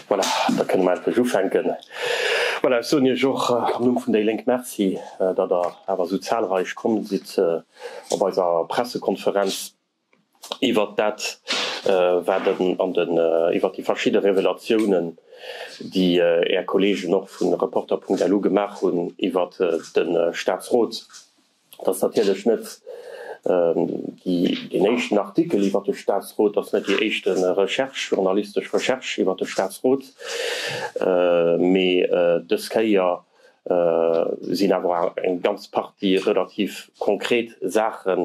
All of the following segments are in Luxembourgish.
Voilà, da kënne mer endlech ufänken. Voilà, ech soen Iech och am Numm vun déi Lénk Merci, datt Der awer esou zahlreich komm sidd op eiser Pressekonferenz iwwert dat, wat an den, iwwert déi verschidde Revelatiounen, déi Är Kollegen och vu Reporter.lu gemaach hunn iwwert de Staatsrot. Dat ass natierlech net deen éischten Artikel iwwer de Statsrot, dat ass net déi éischt Recherche, journalistesch Recherche iwwer de Statsrot, mee dës Kéier sinn awer eng ganz Partie relativ konkret Saache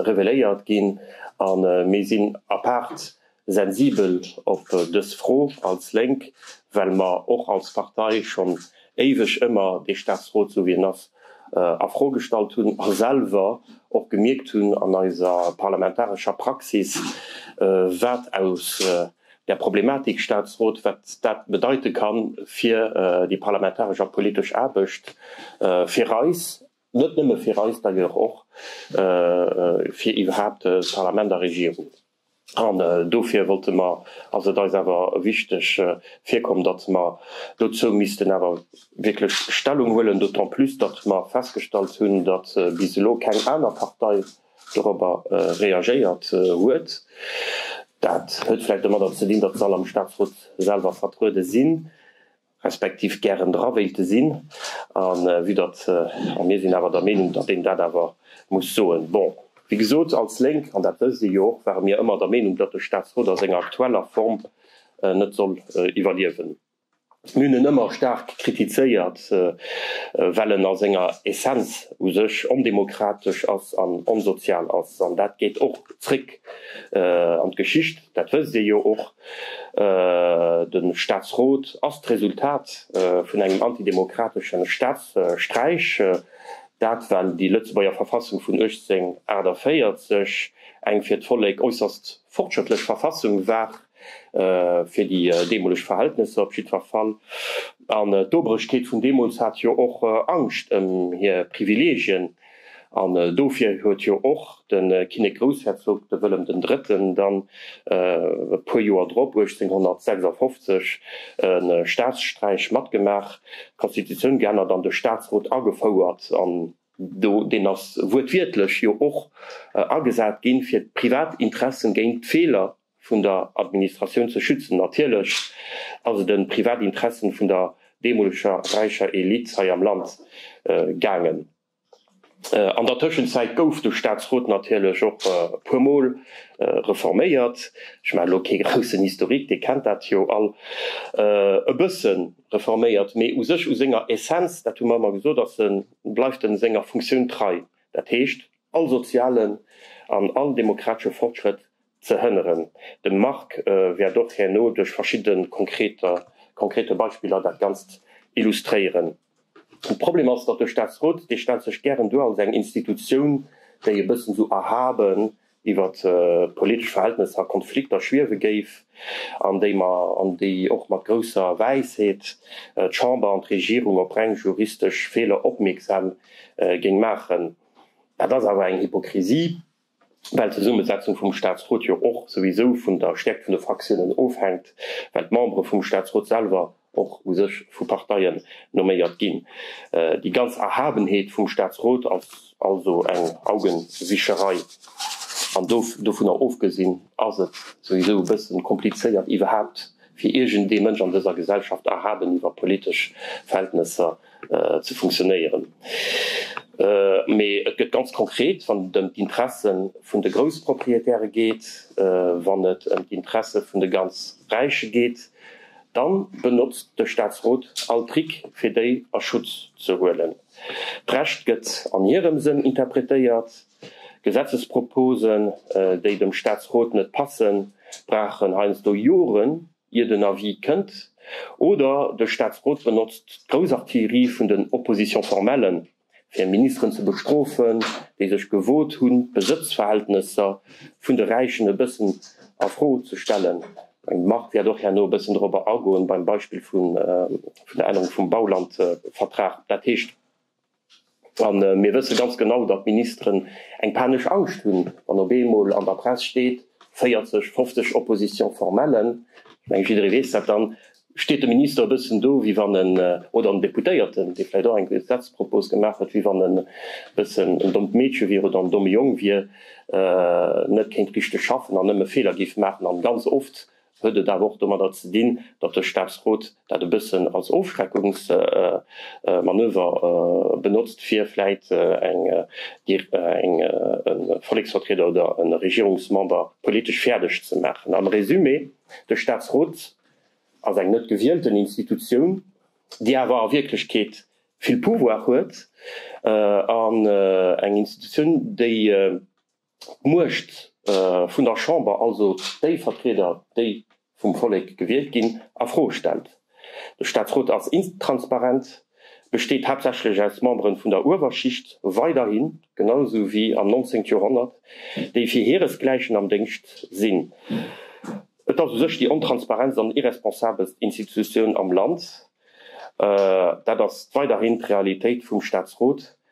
reveléiert ginn a mir sinn apaart Sensibel op dës Fro als Lénk, well mer och als Partei schonn éiweg ëmmer dee Staatsrot, sou wéi en ass, a Fro gestallt hunn a selwer och gemierkt hunn an eiser parlamentarescher Praxis, wat aus der Problematik Staatsrot, wat dat bedeite kann fir déi parlamentaresch a politesch Aarbecht fir eis, net nëmme fir eis d'ailleurs, och fir iwwerhaapt Parlament a Regierung. An dofir wollte mer, ass et eis awer wichteg virkomm, datt mer dozou missten awer wierklech Stellung huelen, d'autant plus datt mer festgestallt hunn, datt bis elo keng aner Partei dorobber reagéiert huet. Dat huet vläicht domadder ze dinn, datt se all am Statsrot selwer vertruede sinn. respektiv gären dra wéilte sinn, a vue datt, a mir sinn awer der Meenung, datt een dat awer muss soen, bon, wéi gesot, als Lénk, an dat wësst Dir jo och, ware mir ëmmer der Meenung, datt de Staatsrot a senger aktueller Form net soll iwwerliewen. Mir hunn en ëmmer staark kritizéiert, well en a senger Essenz u sech ondemokratesch ass an onsozial ass, an dat geet och zréck an d'Geschicht. Dat wësst Dir jo och. De Staatsrot ass d'Resultat vun engem antidemokratesche Staatssträich. Dat well déi Lëtzebuerger Verfassung vun 1848 eng fir d'Vollek äusserst fortschrëttlech Verfassung war, fir déi deemoleg Verhältnesser op jiddwer Fall. An d'Obrechkeet vun deemools hat jo och Angscht ëm hir Privileegien. An dofir huet jo och de Kinnek-Groussherzog, de Wëllem den Drëtten, dann e puer Joer drop, 1856, e Staatssträich matgemaach, d'Konstitutioun geännert an de Staatsrot agefouert. An deen ass wuertwiertlech jo och agesat ginn, fir d'privat Interessen géint d'Feeler vun der Administratioun ze schützen. Natierlech ass et ëm privat Interessen vun der deemoleger räicher Elite hei am Land gaangen. An der Tëschenzäit gouf de Staatsrot natierlech och e puer Mol reforméiert. Ech maachen elo kee groussen Historique, Dir kennt dat jo all. E bësse reforméiert, mee u sech u senger Essenz, dat hu mer ëmmer gesot, ass e, bleift e senger Funktioun trei, dat heescht all sozialen an all demokratesche Fortschrëtt ze hënneren. De Marc wäert och herno duerch verschidde konkrete Beispiller dat Ganzt illustréieren. De Problem ass, datt de Staatsrot, dee stellt sech gären duer als eng Institutioun, déi e bëssen esou erhaben iwwer politesch Verhältnesser a Konflikter schwiewe géif an déi och mat grousser Wäisheet d'Chamber an d'Regierung op reng juristesch Feeler opmierksam géing maachen. Dat ass awer eng Hypokrisie, Well d'Zesummesetzung vum Statsrot jo och souwisou vun der Stäerkt vun de Fraktiounen ofhänkt, well d'Membere vum Statsrot selwer och u sech vu Parteien nomméiert ginn. Déi ganz Erhabenheet vum Statsrot ass also eng Augenwischerei. An dovunner ofgesinn ass et souwisou e bëssen komplizéiert iwwerhaapt fir iergend ee Mënsch an dëser Gesellschaft erhaben iwwer politesch Verhältnesser ze funktionéieren, mee et gëtt ganz konkret, wann et ëm d'Interesse vun de Groussproprietäre geet, wann et ëm d'Interesse vun de ganz Räiche geet, da benotzt de Staatsrot all Trick, fir déi a Schutz ze huelen. D'Recht gëtt an hirem Sënn interpretéiert. Gesetzesproposen, déi dem Statsrot net passen, brauchen heiansdo Joren, ier den Avis kënnt, oder de Statsrot benotzt d'Grousartillerie vun den Oppositions formelles, fir Ministeren ze bestrofen, déi sech gewot hunn, d'Besëtzverhältnesser vun de Räichen e bëssen a Fro ze stellen. Marc wäert och herno e bëssen dorobber agoen, beim Beispill vun der Ännerung vum Baulandvertrag. Dat heescht. A mir wësse ganz genau, datt d'Ministeren eng panesch Angscht hunn, wann op eemol an der Press steet 40, 50 Opposition-formellen. Ech mengen, jidderee weess dat. Da steet de Minister e bëssen do wéi wann en, oder en Deputéierten, dee vläicht och eng Gesetzpropos gemaach huet, wéi wann en e bëssen en dommt Meedche wier oder en domme Jong wier, net kéint richteg schaffen an nëmme Feeler géif maachen. A ganz oft huet et awer och domadder ze dinn, datt de Statsrot dat e bëssen als Ofschreckungsmanöver benotzt, fir vläit eng Volleksvertrieder oder e Regierungsmember politesch fäerdeg ze maachen. Am Resumé, De Statsrot ass eng net gewielten Institutioun, déi awer a Wierklechkeet vill Pouvoir huet, an eng Institutioun, déi, D'Muecht vun der Chamber, also déi Vertrieder, déi vum Vollek gewielt ginn, a Fro stellt. De Staatsrot ass intransparent, besteet haaptsächlech aus Memberen vun der Uewerschicht, weiderhin, genau esou wéi am 19. Joerhonnert, déi fir hiresgläichen am Déngscht sinn. Et ass u sech déi ontransparentst an irresponsabelst Institutioun am Land. Dat ass weiderhin d'Realitéit vum Staatsrot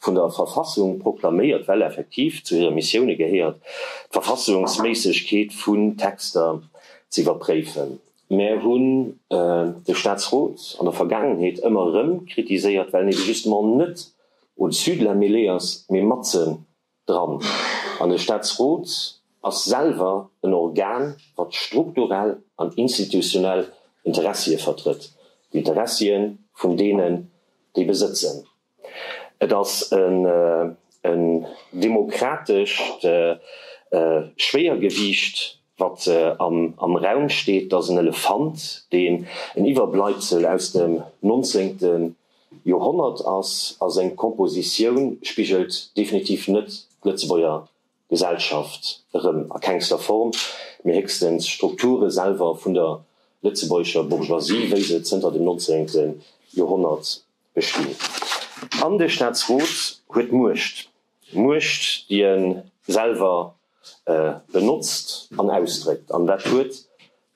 vun der Verfassung proklaméiert, well effektiv zu hire Missioune gehéiert, d'Verfassungsméissegkeet vun Texter z'iwwerpréifen. Mär hunn de Staatsrot an der Vergaangenheet ëmmer erëm kritiséiert, well en ebe justement net au-dessus de la mêlée ass, mee matzen dran. An de Staatsrot ass selwer en Organ, wat strukturell an institutionell Interessie vertrëtt, d'Interessie vun deenen, déi besëtzen. Et ass en demokratescht Schwéiergewiicht, wat am Raum steet. Et ass en Elefant, deen en Iwwerbleibsel aus dem 19. Joerhonnert ass, a seng Kompositioun spigelt definitiv net d'Lëtzebuerger Gesellschaft erëm a kengster Form, mee héchstens d'Strukture selwer vun der lëtzebuergescher Bourgeoisie, wéi se zënter dem 19. Joerhonnert bestinn. An de Staatsrot huet Muecht, Muecht, déi e selwer benotzt an ausdréckt, an dat huet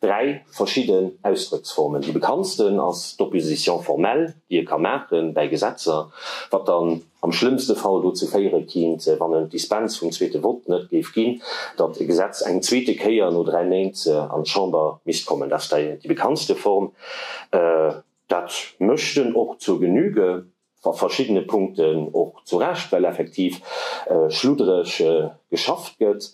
Dräi verschidden Ausdrëcksformen. Déi bekanntsten ass d'Opposition formelle, déi e ka maache bäi Gesetzer, wat dann am schlëmmste Fall dozou féiere kinnt, wann en d'Dispens vum zweete Vott net géif ginn, datt e Gesetz eng zweete Kéier no dräi Méint an d'Chamber misst kommen. Dat ass déi bekanntste Form. Dat mécht en och zur Genüge. A verschiddene Punkten och zu Recht, well effektiv schluddereg geschafft gëtt.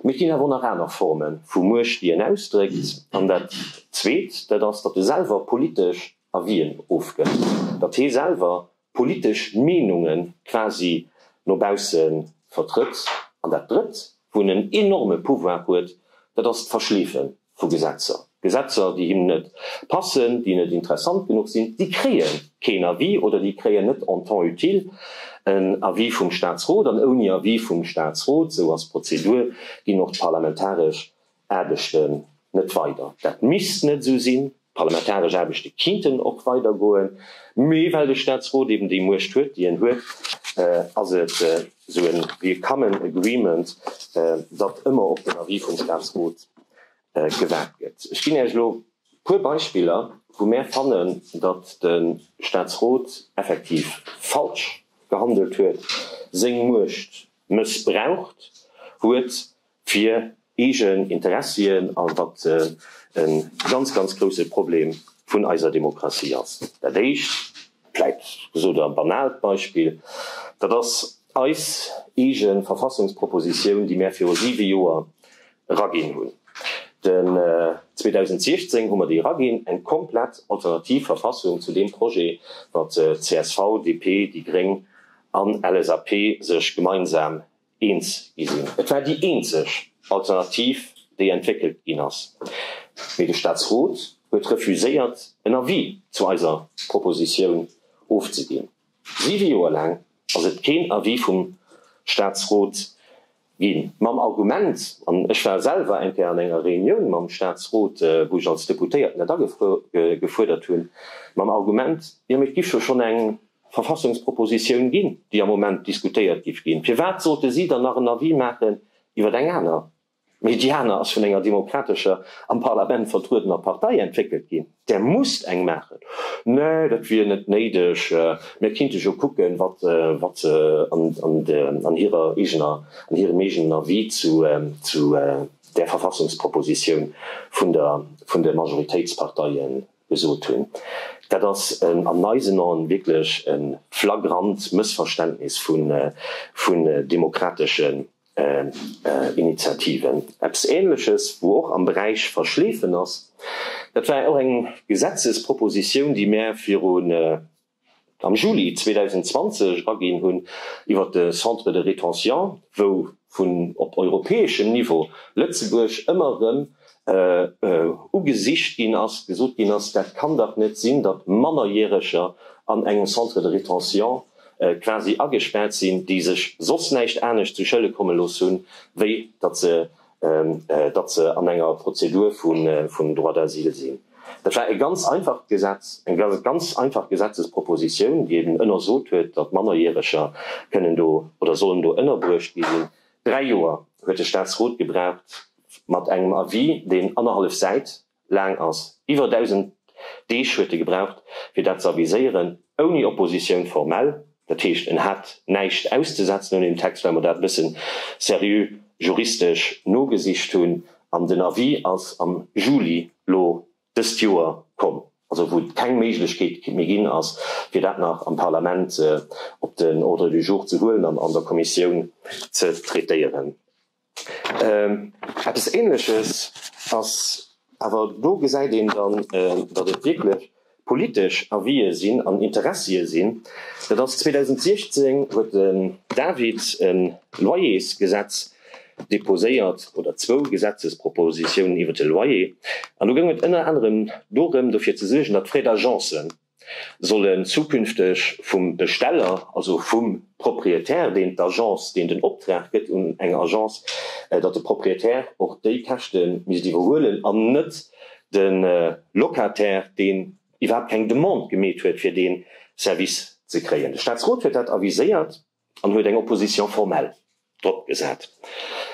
Mee et ginn awer och nach aner Forme vu Muecht, déi een ausdréckt. An dat Zweet, dat ass, datt e selwer politesch Avien ofgëtt, datt hee selwer politesch Meenunge quasi no bausse vertrëtt. An dat Drëtt, wou en en enorme Pouvoir huet, dat ass d'Verschleefen vu Gesetzer. Gesetzer, déi him net passen, déi net interessant genuch sinn, déi kréie keen Avis oder déi kréien net en temps utile en Avis vum Statsrot. An ouni Avis vum Statsrot, esou ass d'Prozedur, ginn och d'parlamentaresch Aarbechten net weider. Dat misst net esou sinn. D'parlamentaresch Aarbechte kinnten och weider goen, mee well de Staatsrot eben déi Muecht huet, déi en huet, ass et esou e willkommen agreement, datt ëmmer op den Avis vum Staatsrot gewaart gëtt. Ech ginn Iech elo e puer Beispiller, wou mär fannen, datt de Staatsrot effektiv falsch gehandelt huet, seng Muecht mëssbraucht huet fir eegen Interessien a wat e ganz, ganz grouse Problem vun eiser Demokratie ass. Dat éischt, vläit gesot a banaalt Beispill, dat ass eis eege Verfassungspropositioun, déi mär viru siwe Joer eraginn hunn. Den 2016 hu mer déi eraginn, eng komplett alternativ Verfassung zu deem Projet, wat csv, DP, déi gréng an LSAP sech gemeinsam eens gi sinn. Et war déi eenzeg Alternativ, déi entwéckelt ginn ass. Mee de Staatsrot huet refuséiert, en Avis zu eiser Propositioun ofzeginn. Siwe Joer laang ass et keen Avis vum Staatsrot ginn. Mam Argument, an ech war selwer eng Kéier an enger Reunioun mam Staatsrot, wou ech als Deputéierten dat agefuerdert hunn, mam Argument, jo mee et giff jo schonn eng. Verfassungspropositioun ginn, déi am Moment diskutéiert giff ginn. Firwat sollte si dann nach en Avis maachen iwwer eng aner? Mee déi aner ass vun enger demokratescher, am Parlament vertruedener Partei entwéckelt ginn. Där musst eng maachen. Nee, dat wier net néideg. Mir kinnte jo kucken, wat se an hirer eegener, an hirem eegenen Avis zu där Verfassungspropositioun vun de Majoritéitsparteien, gesot hunn. Dat ass an eisen Aen wierklech e flagrant Mëssverständnis vun demokrateschen Initiativen. Eppes Ähnleches, wou och am Beräich Verschleefen ass, dat war och eng Gesetzespropositioun, déi mär viru am Juli 2020 aginn hunn, iwwer de Centre de rétention, wou vun op europäeschem Niveau Lëtzebuerg ëmmer erëm ugesicht ginn ass, gesot ginn ass, dat kann dach net sinn, datt Mannerjäreger an engem Centre de rétention quasi agespaart sinn, déi sech soss näischt anescht zu Schëlle komme looss hunn, wéi datt se datt se an enger Prozedur vun Droit d'asile sinn. Dat war e ganz einfacht Gesetz, eng ganz einfach Gesetzespropositioun, déi eben ënnersot huet, datt Mannerjäreger kënnen do oder sollen do ënnerbruecht gi sinn. Dräi Joer huet de Staatsrot gebraucht mat engem Avis, deen annerhallef Säit laang ass. Iwwer 1.000 Deeg huet e gebraucht, fir dat ze aviséieren, ouni Oppositioun formell. Dat heescht, en hat näischt auszesetzen un deem Text, well mer dat e bësse seriö juristesch nogesicht hunn. An den Avis ass am Juli elo dëst Joer komm, also wou et keng Méiglechkeet méi ginn ass, fir dat nach am Parlament op den Ordre du jour ze huelen an an der Kommissioun ze traitéieren. Eppes ähnleches ass, awer do gesäit een dann, datt et wierklech politesch Avisë sinn an Interessie sinn, dat ass 2016 huet den David e Loyersgesetz deposéiert, oder zwou Gesetzespropositiounen iwwert de Loyer, an do goung et ënner anerem dorëm dofir ze suergen, datt Frais d'agence, sollen zukünfteg vum Besteller, also vum Propriétaire, deen d'Agence, deen den Optrag gëtt un eng Agence, datt de Propriétaire och déi Käschte misst iwwerhuelen an net de Locataire, deen iwwerhaapt keng Demande gemeet huet fir dee Service ze kréien. De Statsrot huet dat aviséiert. an huet eng Opposition formelle drop gesat,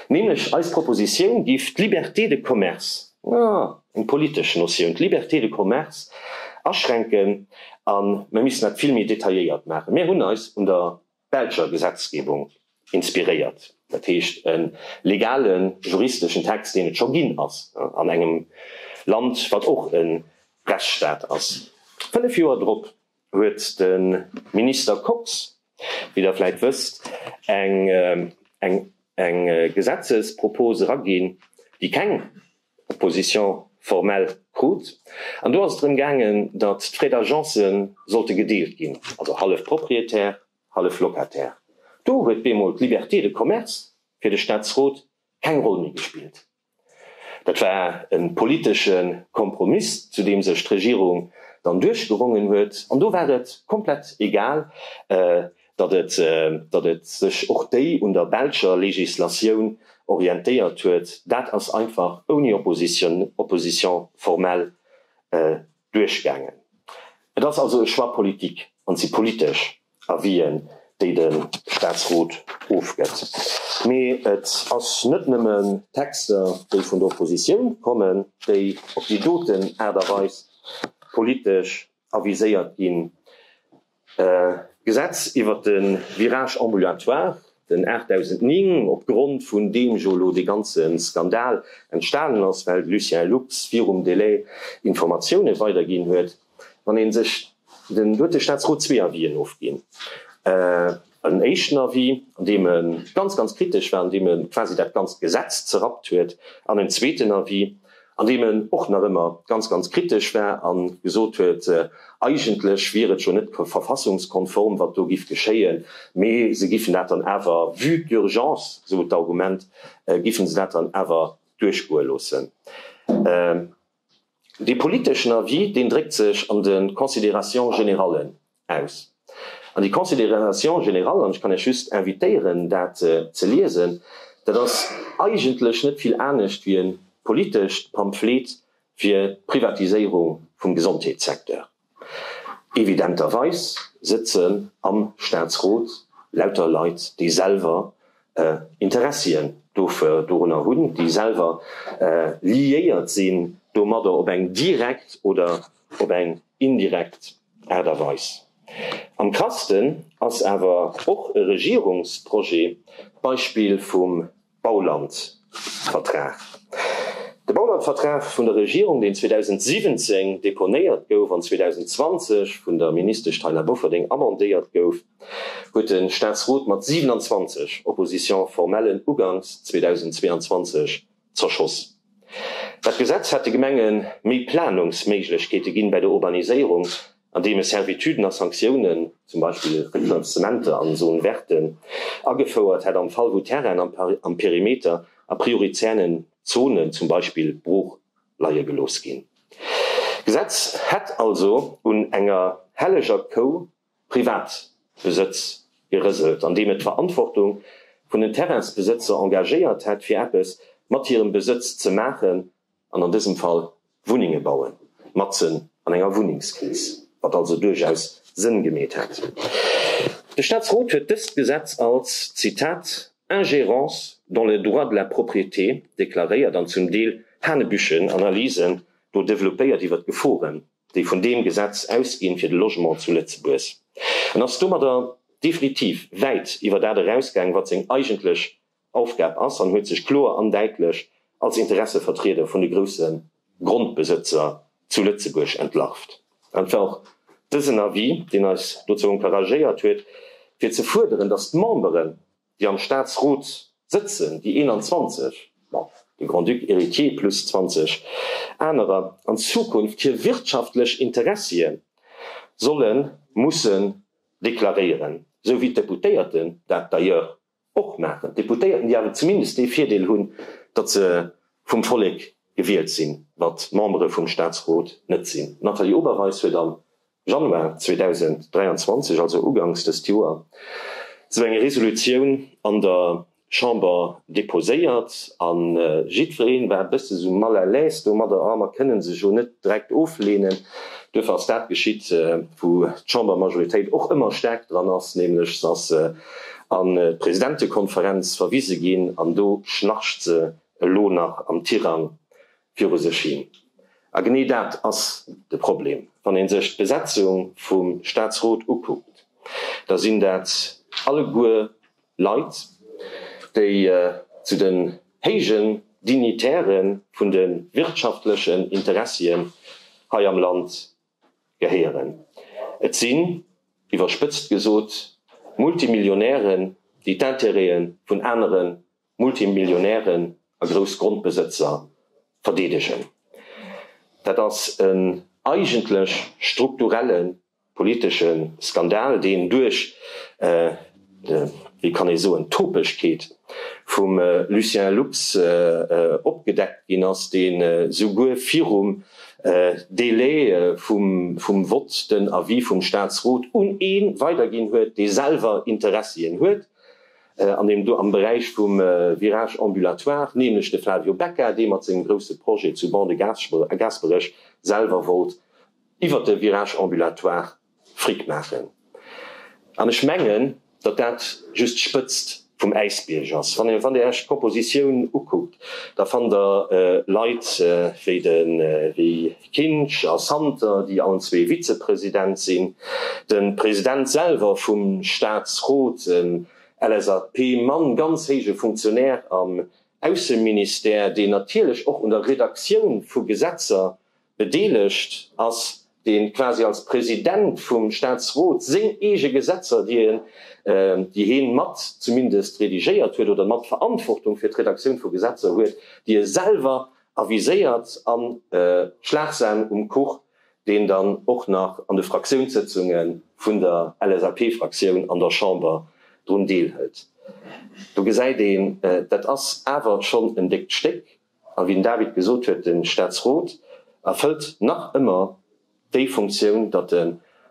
nämlech eis Proposition giff d'Liberté de commerce, ah, eng politesch Notioun, d'Liberté de commerce aschränken a mer missten dat vill méi detailléiert maachen. Mir hunn eis un der belscher Gesetzgebung inspiréiert, dat heescht e legale juristeschen Text, deen et scho ginn ass an engem Land, wat och e Rechtsstaat ass. Fënnef Joer drop huet de Minister Kox, wéi Der vläit wësst, eng Gesetzespropos eraginn, déi keng Opposition formelle krut. An do ass et drëm gaangen, datt d'Frais d'agence sollte gedeelt ginn, also hallef Propriétaire, hallef Locataire. Do huet bemol d'Liberté de commerce fir de Staatsrot keng Roll méi gespillt. Dat war e politesche Kompromiss, zu deem sech d'Regierung dann duerchgerongen huet. An do war et komplett egal, datt et sech och déi un der belscher Legislatioun orientéiert huet. Dat ass einfach ouni Opposition formelle Duerchgaangen. Et ass also e Choix politique an et si politesch Avisen, déi de Statsrot ofgëtt. Mee et ass net nëmmen Texter, déi vun der Oppositioun kommen, déi op déi doten Aart a Weis politesch aviséiert ginn. D'Gesetz iwwert de Virage ambulatoire, den 8009, opgrond vun deem jo elo dee ganze Skandal entstanen ass, well de Lucien Lux virum Delai Informatiounen weiderginn huet, wann ee sech, den huet de Staatsrot zwee Avisen ofginn, En éischten Avis, an deem e ganz, ganz kritesch war, an deem e quasi dat ganzt Gesetz zerrappt huet, an en zweeten Avis, an deem en och nach ëmmer ganz, ganz kritesch war a gesot huet, eigentlech wier et jo net verfassungskonform, wat do giff geschéien, mee se giffen dat dann awer, vue d'urgence, sou d'Argument, giffen se dat dann awer duerchgoe loossen. Dee politeschen Avis, deen dréckt sech an de Considérations générallen aus. An déi Considérations générallen, an ech kann Iech just invitéieren, dat ze liesen, dat ass eigentlech net vill anescht wéi e politescht Pamphlet fir d'Privatiséierung vum Gesondheetssecteur. Evidenterweis sëtzen am Staatsrot lauter Leit, déi selwer Interessien dorunner hunn, déi selwer liéiert sinn domadder op eng direkt oder op eng indirekt Aart a Weis. Am krassten ass awer och e Regierungsprojet, d'Beispill vum Baulandvertrag. De Baulandvertrag vun der Regierung, deen 2017 deponéiert gouf an 2020 vun der Ministesch Taina Bofferding amendéiert gouf, huet de Staatsrot mat 27 Opposition-formellen uganks 2022 zerschoss. Dat Gesetz hätt de Gemenge méi Planungsméiglechkeete ginn bei der Urbaniséierung, an deem e Servituden a Sanktiounen, zum Beispill Refinanzementer an esou Werte agefouert hätt am Fall wou Terrainen am Perimeter a priorizären Zonen, zum Beispill, brooch leie gelooss ginn. D'Gesetz hätt also un enger helleger Kou Privatbesëtz gerëselt, andeem et d'Verantwortung vun den Terrainsbesëtzer engagéiert hätt fir eppes mat hirem Besëtz ze maachen, an an dësem Fall Wunnenge bauen, matzen an enger Wunnengskris, wat also duerchaus Sënn gemeet hätt. De Staatsrot huet dëst Gesetz als, Zitat, ingérence dans les droits de la propriété deklaréiert an zum Deel hanebüchen Analysen do developpéiert iwwert d'Geforen, déi vun deem Gesetz ausginn fir de Logement zu Lëtzebuerg, an ass domadder definitiv wäit iwwer dat erausgaang, wat seng eigentlech Aufgab ass an huet sech kloer an däitlech als Interessevertrieder vun de grousse Grondbesëtzer zu Lëtzebuerg entlarvt. An et war och dësen Avis, deen eis dozou encouragéiert huet, fir ze fuerderen, datt d'Memberen, déi am Staatsrot sëtzen, déi 21, bon, de Grand-Duc héritier plus 20 anerer, an Zukunft hir wirtschaftlech Interessie solle mussen deklaréieren, esou wéi d'Deputéierten dat d'ailleurs Och maachen d'Deputéierten, déi awer zumindest dee Virdeel hunn, datt se vum Vollek gewielt sinn, wat d'Membere vum Staatsrot net sinn. D'Nathalie Oberweis huet am Januar 2023, also ugangs dëst Joer, esou eng Resolutioun an der Chamber deposéiert a jiddweree war e bësse sou mal à l'aise domadder, a mer kënne se jo net direkt ofleenen. Duerfir ass dat geschitt, wou d'Chambermajoritéit och ëmmer staark dran ass, nämlech se ass an d'Presidentekonferenz verwise ginn an do schnarcht se elo nach am Tirang viru sech hin. A genee dat ass de Problem, wann ee sech d'Besetzung vum Staatsrot ukuckt, da sinn dat alleguer Leit, déi zu den héijen Dignitäre vun de wirtschaftlechen Interessien hei am Land gehéieren. Et sinn, iwwerspëtzt gesot, Multimillionären, déi d'Intérêten vun anere Multimillionären a Groussgrondbesëtzer verdeedegen. Dat ass en eigentlech strukturelle politesche Skandal, deen duerch. wéi kann ee soen, Topegkeet vum Lucien Lux opgedeckt ginn ass, dee souguer virum Délai vum Vott den Avis vum Statsrot un ee weiderginn huet, dee selwer Interessien huet an deem do am Beräich vum Virage ambulatoire, nämlech de Flavio Becca, dee mat sengem grousse Projet zu Ban-de-Gasperech selwer wollt iwwert de Virage ambulatoire, Fric maachen. An ech mengen, datt dat just d'Spëtzt vum Äisbierg ass. Wann Der Iech d'Propositioun ukuckt, da fannt Der Leit wéi de Guy Kinsch a Santer, déi allen zwee Vizepresident sinn, de President selwer vum Staatsrot, en LSAP-Mann, ganz héije Funktionär am Ausseministère, deen natierlech och un der Redaktioun vu Gesetzer Bedeelegt ass, deen quasi als President vum Staatsrot seng eege Gesetzer, déi en, déi heen mat zumindest redigéiert huet oder mat Verantwortung fir d'Redaktioun vu Gesetzer huet, déi e selwer aviséiert an Schlagsahn um Kuch, deen dann och nach an de Fraktiounssëtzunge vun der LSAP-Fraktioun an der Chamber drun deelhëlt. Do gesäit een, dat ass awer schonn en déckt Stéck. A wéi den David gesot huet, de Staatsrot erfëllt nach ëmmer déi Funktioun, datt e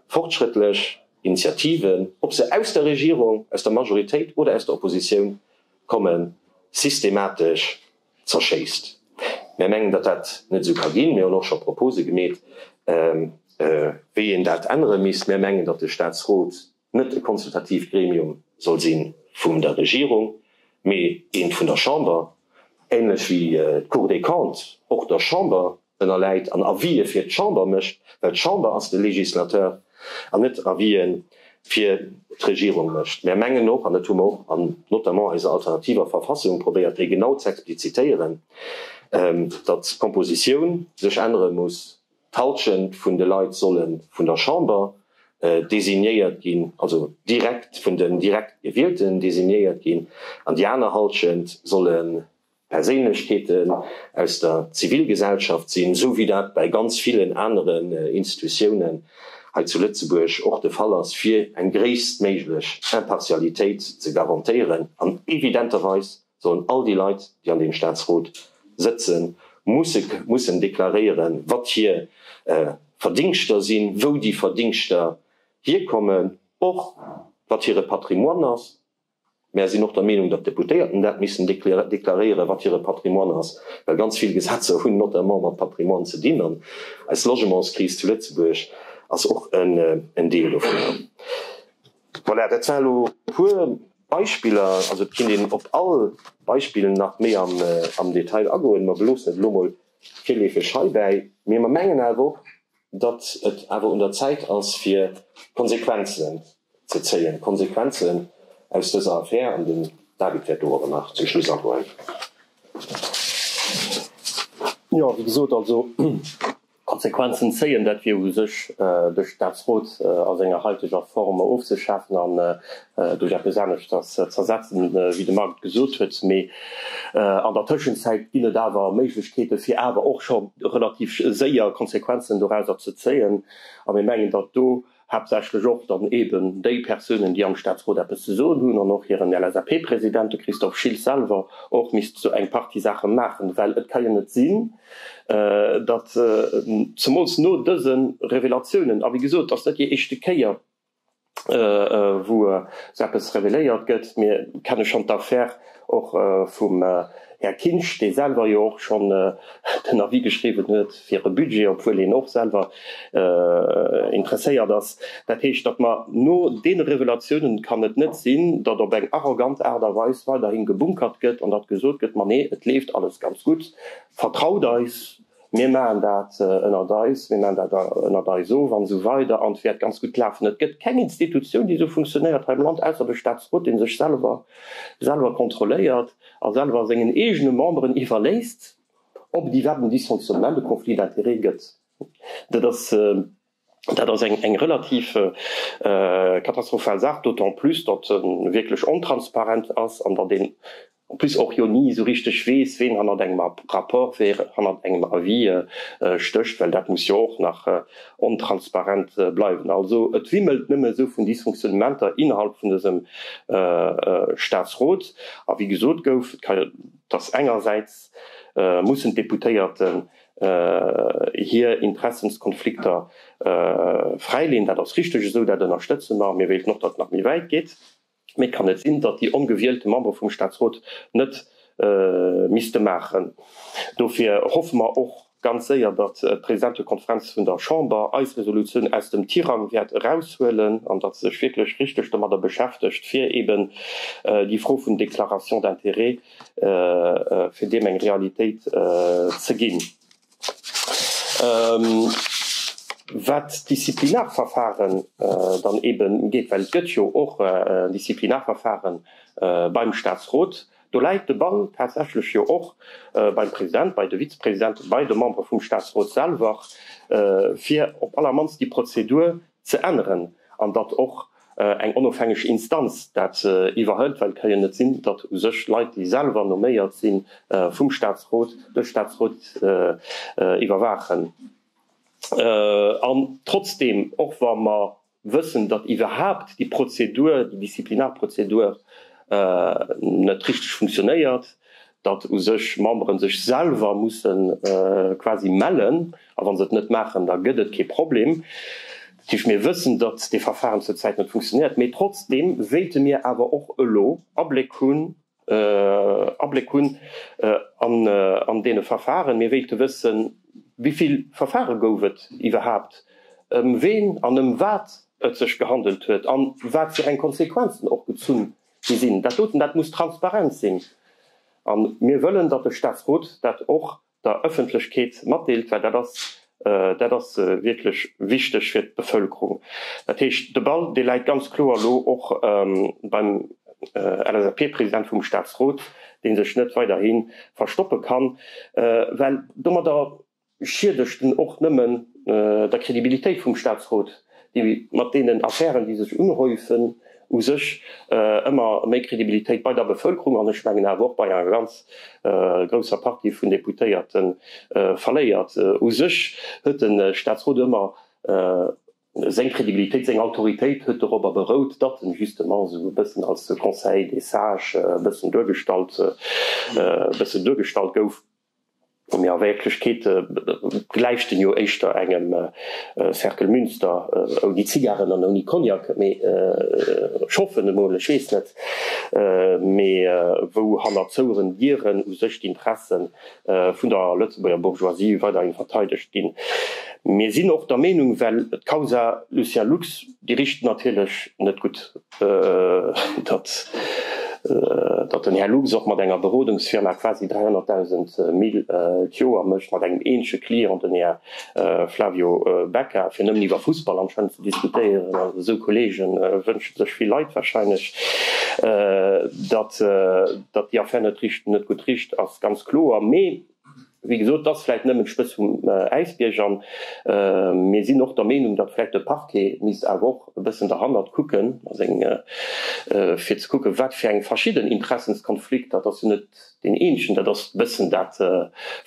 fortschrëttlech Initiativen, ob se aus der Regierung, aus der Majoritéit oder aus der Oppositioun kommen, systematesch zerschéisst. Mär mengen, datt dat net esou ka ginn. Mir hunn och scho Propose gemeet, wéi een dat ännere misst. Mär mengen, datt de Staatsrot net e konsultatiivt Gremium soll si vum der Regierung, mee eent vun der Chamber, ähnlech wéi d'Cour des Comptes och der Chamber ënnerläit an Avisë fir d'Chamber mécht, well d'Chamber ass de Législateur, an net Avisë fir d'Regierung mécht. Mär mengen och, an dat hu mer och an notamment a eiser alternativer Verfassung probéiert déi genau z'explizitéieren, datt d'Compositioun sech ännere muss, D'Halschent vun de Leit solle vun der Chamber designéiert ginn, also direkt vun den direkt Gewielten designéiert ginn, an déi aner Halschent solle Perséinlechkeeten aus der Zivilgesellschaft sinn, esou wéi dat bäi ganz villen aneren Institutiounen hei zu Lëtzebuerg och de Fall ass, fir eng gréisstméiglech Impartialitéit ze garantéieren an evidenterweis, sollen all déi Leit, déi an deem Statsrot sëtzen, mussen deklaréieren, wat hir Verdingschter sinn, wou déi Verdingschter hierkommen, och wat hire Patrimoine ass. Mär sinn och der Meenung, datt d'Deputéierten dat missen deklaréieren, wat hire Patrimoine ass, well ganz vill Gesetzer hunn notamment mat Patrimoine ze dinn, an eis Logementskris zu Lëtzebuerg ass och en Deel dovunner. Voilà, dat waren elo e puer Beispiller. Also et kinnt een op all Beispill nach méi am Detail agoen. Mer beloossen et elo mol virleefeg heibäi. Mee mer mengen awer och, datt et awer un der Zäit ass fir Konsequenzen ze zéien, Konsequenzen aus dëser Affär. An den David wäert do awer nach zum Schluss agoen. Jo, wéi gesot, also. Konsequenzen zéien, dat wier u sech de Staatsrot a senger haiteger Form ofzeschafen an duerch eppes aneschters z'ersetzen, wéi de Marc et gesot huet. Mee an der Tëschenzäit ginn et awer Méiglechkeete fir awer och scho relativ séier Konsequenzen dorauser ze zéien a mir mengen, datt do, haaptsächlech och dann eben déi Persounen, déi am Staatsrot eppes ze soen hunn, an och hiren LSAP-President, de Christophe Schiltz selwer, och misst sou eng Partie Saache maachen, well et ka jo net sinn, datt zemools no dëse Revelatiounen, a wéi gesot, et ass net déi éischte Kéier, wou sou eppes reveléiert gëtt, mir kenne schonn d'Affär, Och vum Här Kinsch, dee selwer jo och schonn den Avis geschriwwen huet fir e Budget, obwuel hien och selwer interesséiert ass. Dat heescht, datt mer no deene Revelatiounen, kann et net sinn, datt op eng arrogant Aart a Weis weiderhi gebunkert gëtt an datt gesot gëtt, Ma nee, et leeft alles ganz gutt, vertraut eis. Mir maachen dat ënnert eis, mir maachen dat ënnert eis of an esou weider an et wäert ganz gutt lafen. Et gëtt keng Institutioun, déi esou funktionéiert hei am Land, ausser de Staatsrot, dee sech selwer selwer kontrolléiert a selwer sengen eegene Memberen iwwerléisst, ob et iwwerhaapt en Dysfonctionnement, e Conflit d'intérêts gëtt. Dat ass. Dat ass eng relativ katastrophal Saach, d'autant plus datt e wierklech ontransparent ass an datt een en plus och jo ni esou richteg weess, ween hannert engem Rapport, wee hannert engem Avis stécht, well dat muss jo och nach ontransparent bleiwen. Also et wimmelt nëmme esou vun Dysfonctionnementer innerhalb vun dësem Staatsrot. A wéi gesot gouf, datt engersäits mussen d'Deputéierten hir Interessenskonflikter fräileen. Dat ass richteg esou, dat ënnerstëtze mer. Mir wéilten och, datt et nach méi wäit geet. Mee et kann net sinn, datt déi ongewielte Membere vum Staatsrot net misste maachen. Dofir hoffe mer och ganz séier, datt d'Presidentekonferenz vun der Chamber eis Resolutioun aus dem Tirang wäert eraushuelen an datt se sech wierklech richteg domadder beschäftegt, fir eeben déi Fro vun Déclaration d'intérêts, fir deem eng Realitéit ze ginn. Wat d'Disziplinarverfare dann eeben ugeet, well et gëtt jo och en Disziplinarverfare beim Statsrot, do läit de Ball tatsächlech jo och beim President, bei de Vizepresidenten, bei de Membere vum Statsrot selwer, fir op allermannst déi Prozedur ze änneren an datt och eng onofhängeg Instanz dat iwwerhëlt, well et ka jo net sinn, datt u sech Leit, déi selwer noméiert si vum Statsrot, de Statsrot iwwerwaachen. An trotzdeem, och wa mer wëssen, datt iwwerhaapt déi Prozedur, déi Disziplinarprozedur net richteg funktionéiert, datt u sech Memberen sech selwer musse quasi mellen a wa se et net maachen, da gëtt et kee Problem. Effektiv, mir wëssen, datt dee Verfahren zur Zäit net funktionéiert, mee trotzdeem wéilte mir awer och elo Abléck hunn, Abléck hunn an dee Verfahren. Mir wéilte wëssen, wéi vill Verfahren gouf et iwwerhaapt, ëm ween an ëm wat et sech gehandelt huet an wat fir eng Konsequenzen och gezunn déi sinn, dat doten, dat muss transparent sinn. A mir wëllen, datt de Statsrot dat och der Ëffentlechkeet matdeelt, well dat ass, dat ass wierklech wichteg fir d'Bevëlkerung. Dat heescht, de Ball, dee läit ganz kloer elo och beim LSAP-President vum Statsrot, dee sech net weiderhi verstoppe kann, well domadder schiedegt en och nëmmen der Kredibilitéit vum Statsrot, déi mat deenen Affären, déi sech unhäufen, u sech ëmmer méi Kredibilitéit bei der Bevëlkerung, an ech mengen awer och bei enger ganz grousser Partie vun Deputéierte verléiert. U sech huet de Statsrot ëmmer seng Kredibilitéit, seng Autoritéit huet dorobber berout, datt en justement esou e bëssen als Conseil des sages e bëssen duergestallt, e bëssen duergestallt gouf. Mee a Wierklechkeet gläicht en jo éischter engem Cercle Münster ouni Zigaren an ouni Cognac, mee ech hoffen emol, ech weess net, mee wou hannert zoueren Dieren u sech d'Interesse vun der Lëtzebuerger Bourgeoisie weiderhin verteidegt ginn. Mir sinn och der Meenung, well d'Causa Lucien Lux, déi richt natierlech net gutt datt den Här Lux och mat enger Berodungsfirma quasi 300.000 Mille d'Joer mécht, mat engem eenzege Client, den Här Flavio Becca, fir nëmmen iwwer Fussball anscheinend ze diskutéieren. Also esou Kollege wënsche sech vill Leit warscheinlech. Datt déi Affär net gutt richt ass, ganz kloer. Mee Wéi gesot, et ass vläicht nëmmen d'Spëtz vum Äisbierg an mir sinn och der Meenung, datt vläicht de Parquet misst awer och e bëssen derhannert kucken, fir ze kucken, wat fir eng verschidden Interessenskonflikter, et ass jo net deen eenzegen, dat ass e bëssen dat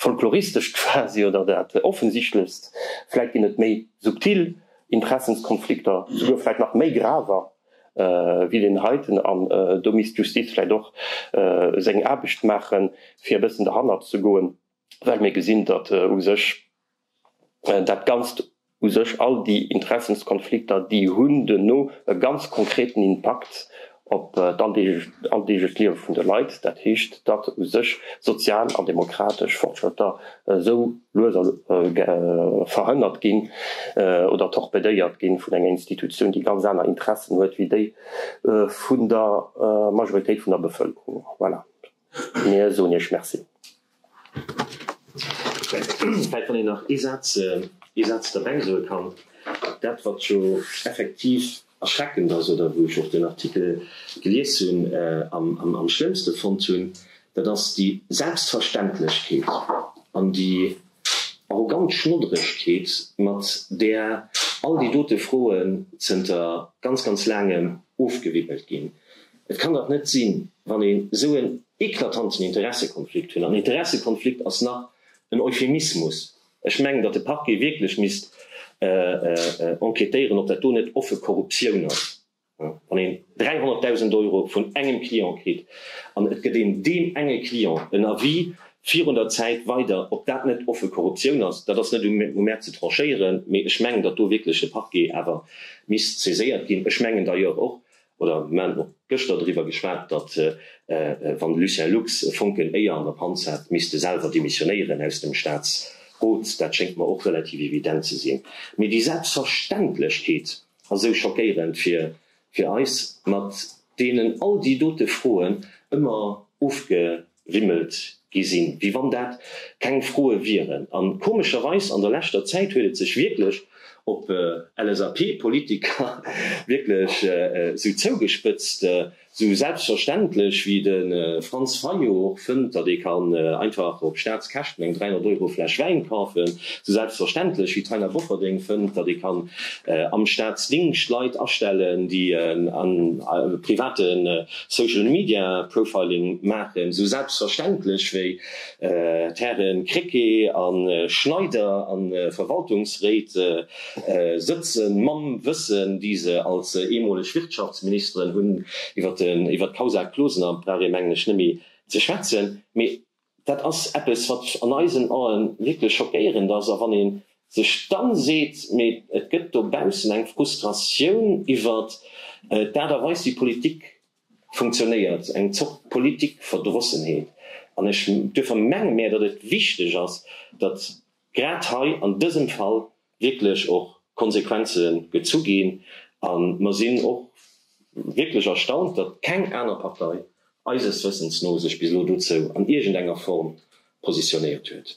Folkloristescht quasi oder dat Offensichtlechst, vläicht ginn et méi subtil Interessenskonflikter, souguer vläicht nach méi graver. wéi deen heiten, an do misst d'Justiz vläicht och seng Aarbecht maachen, fir e bëssen derhannert ze goen, well mir gesinn, datt u sech dat Ganzt, u sech all déi Interessenskonflikter, déi hunn duerno e ganz konkreten Impakt op d'alldeeglech Liewe vun de Leit, dat heescht, datt u sech sozial an demokratesch Fortschrëtter esou, lues a lues verhënnert ginn oder torpedéiert ginn vun enger Institutioun, déi ganz aner Interessen huet wéi déi vun der Majoritéit vun der Bevëlkerung. Voilà, mir soen Iech Merci. Vläicht, wann een nach ee Saz, ee Saz derbäisoe kann, dat, wat jo effektiv erschreckend ass oder wou ech och den Artikel gelies hunn an am schlëmmste fonnt hunn, dat ass déi Selbstverständlechkeet an déi arrogant Schnodderegkeet, mat där all déi dote Froen zënter ganz, ganz Laangem ofgewibbelt ginn. Et kann dach net sinn, wann een esou en eklatanten Interessekonflikt hunn, an Interessekonflikt ass nach en Euphemismus, Ech mengen, datt de Parquet wierklech misst enquêtéieren, ob dat do net offe Korruptioun ass, wann een 300.000 Euro vun engem Client kritt an et gëtt een deem enge Client en Avis virun der Zäit weider, ob dat net offe Korruptioun ass. Dat ass net u mär ze tranchéieren, mee ech mengen, datt do wierklech de Parquet awer misst saiséiert ginn. Ech mengen d'ailleurs och, Oder mir haten och gëschter driwwer geschwat, datt wann de Lucien Lux e Fonken Éier an der Panz hätt, misst e selwer demissionéieren aus dem Staatsrot. Dat schéngt mer och relativ evident ze sinn. Mee déi Selbstverständlechkeet ass esou schockéierend fir eis, mat deenen all déi dote Froen ëmmer ofge. wimmelt gi sinn, wéi wann dat keng Froe wieren. A komescherweis an der leschter Zäit huet et sech wierklech op LSAP-Politiker wierklech esou zougespëtzt, esou selbstverständlech wéi de Franz Fayot och fënnt, datt ee kann einfach op Staatskäschten eng 300 Euro Fläsch Wäin kafen, esou selbstverständlech wéi d'Taina Bofferding fënnt, datt ee kann am Staatsdingscht Leit astellen, déi e private Social Media Profiling maachen, esou selbstverständlech wéi d'Hären Krecké a Schneider a Verwaltungsréit sëtze mam Wëssen, déi se als eemoleg Wirtschaftsministeren hunn, iwwer d'Causa Closener brauch ee mengen ech net méi ze schwätzen, mee Dat ass eppes, wat an eisen Aen wierklech schockéierend ass. A wann ee sech dann seet, mee et gëtt dobaussen eng Frustratioun iwwert d'Aart a Weis, wéi Politik funktionéiert, eng Zort Politikverdrossenheet. An ech duerfer menge mär, datt et wichteg ass, datt grad hei an dësem Fall wierklech och Konsequenze gezu ginn a mer sinn och wierklech erstaunt, datt keng aner Partei, eises Wëssens no, sech bis elo dozou an iergendenger Form positionéiert huet.